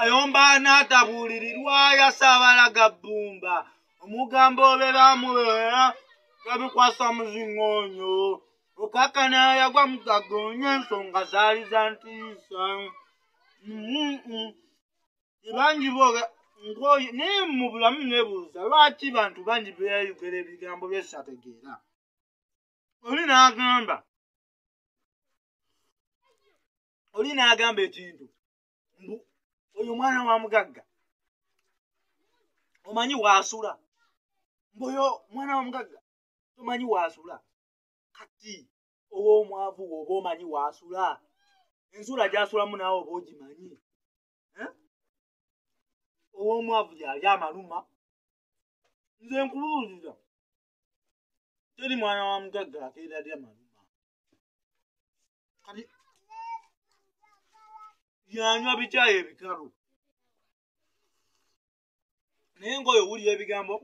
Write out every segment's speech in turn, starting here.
ayomba n'atabuulirirwa yasaabala ga bbumba omugambo obe baamubeera gabikwasa muzingoonyo okakana yagwa mugagoonya ensonga zaali za ntiisa bangi booga ngoyo naye mu bulamu nebuuza lwaki bantu bangi beyayogera ebigambo byesategeera oli n'agamba oli n'agamba ekintu mbu oyo omwana wa mugagga omanyi waasula mbu oyo omwana wa mugagga tomanyi waasula kati ow'omwavu wooba omanyi waasula ensula gyasulamu naawe oba ogimanyi eh? ow'omwavu yali amaluma nze nkubuulira teri mwana wa mugagga akeeralya maluma kati yanywa bikyayi ebikalu naye ngaoyo owulira ebigambo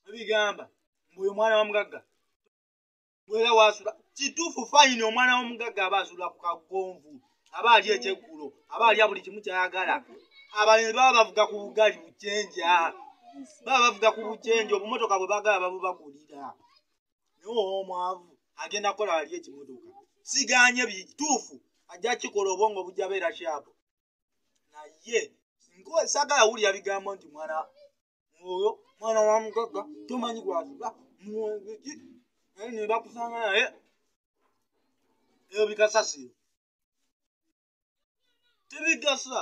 ebigamba mbuoyo omwana wa mugagga era wasula kituufu fayini omwana womugagga aba asula ku kagonvu aba ali ekyeggulo aba alya buli kimu kyayagala abalimi baba bavuga ku bugali bukyenja baba bavuga ku bukyenja obumotoka bwe bagala babubagulira naye omwavu agenda kola ali ekimotoka siganye bituufu ajja kikola obwongo bujja beera kyabu naye sagala wulira bigambo nti mwana oyo mwana wa mugagga tomanyi gwaziba mwegiki naye nebakusanga naye ebyo bikasasiro tebigasa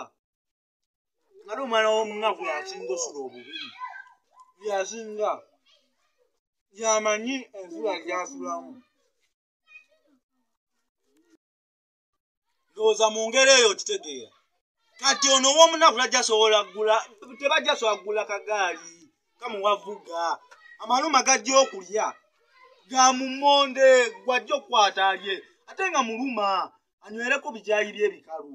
ngate omwana womunaku yasinga osula obubi yasinga yamanyi ensula gyasulamu ndowooza mu ngeri eyo okitegeera kati ono womunaku tajasobola gula tebajasobola kugula kagaali kamuwavuga amaluma gajja okulya ga mumonde gwajja okukwata alye ate nga muluma anywereko bijayiri ebikalu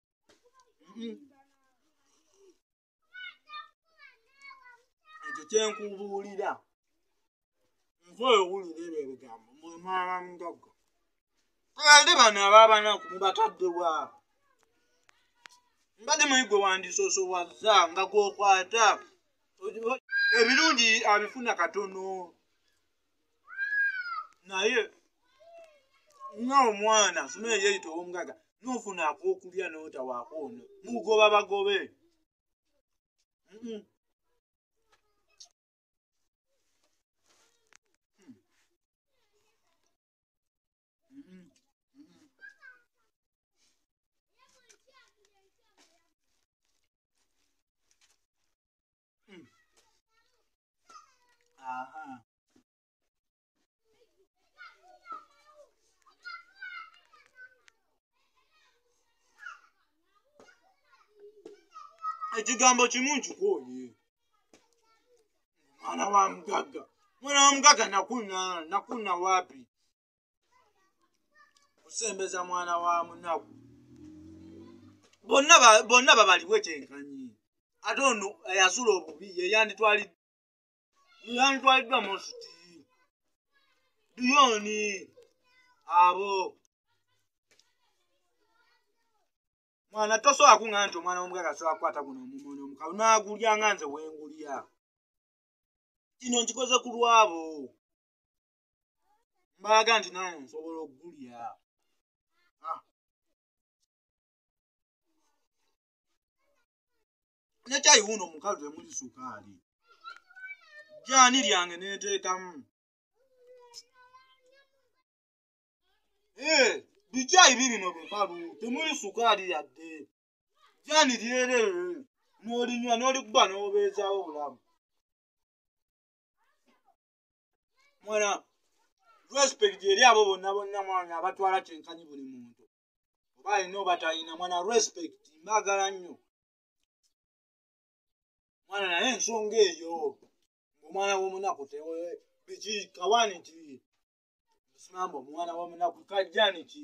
Mm. ekyo kyenkubuulira nze oyo wulira ebyo ebigambo mwemwaba mugaga ate bano ababanaku mubatadde wa mbadde muli gwe wandisosowaza nga gwokwata ebirungi abifuna katono naye nga omwana asoma eyeyita owomugaga nofuna akokulya notawaako ono mugoba bagobe Aha. ekigambo kimu nkikooye mwana wa mugagga mwana wa mugagga nakuna nakuna wapi kusembeza mwana wa munaku bonna babaliwe kyenkanyi ate ono eyasula obubi yeyanditwaliddwa munsuti duyoni abo mwana tosobola kuŋa nti omwana womugaga asobola kukwata guno omumono omukalu nagulya nga nze wengulya kino nkikoze ku lwabo mbaga nti nange nsobola okugulya ah. nekyayi wuno omukazi temuli sukaali jani lyange neteekamu eh, bikyayi bibino bikalu temuli sukaali yadde jani lyerere n'olinywa n'olikuba n'obeezawo obulamu mwana respect eri abo bonna bonna mwana abatwala kyenkanyi buli muntu oba alina oba talina mwana respect mbagala nnyo mwana naye ensonga eyo omwana womunaku biki kawani ki simamba omwana womunaku kajjani ki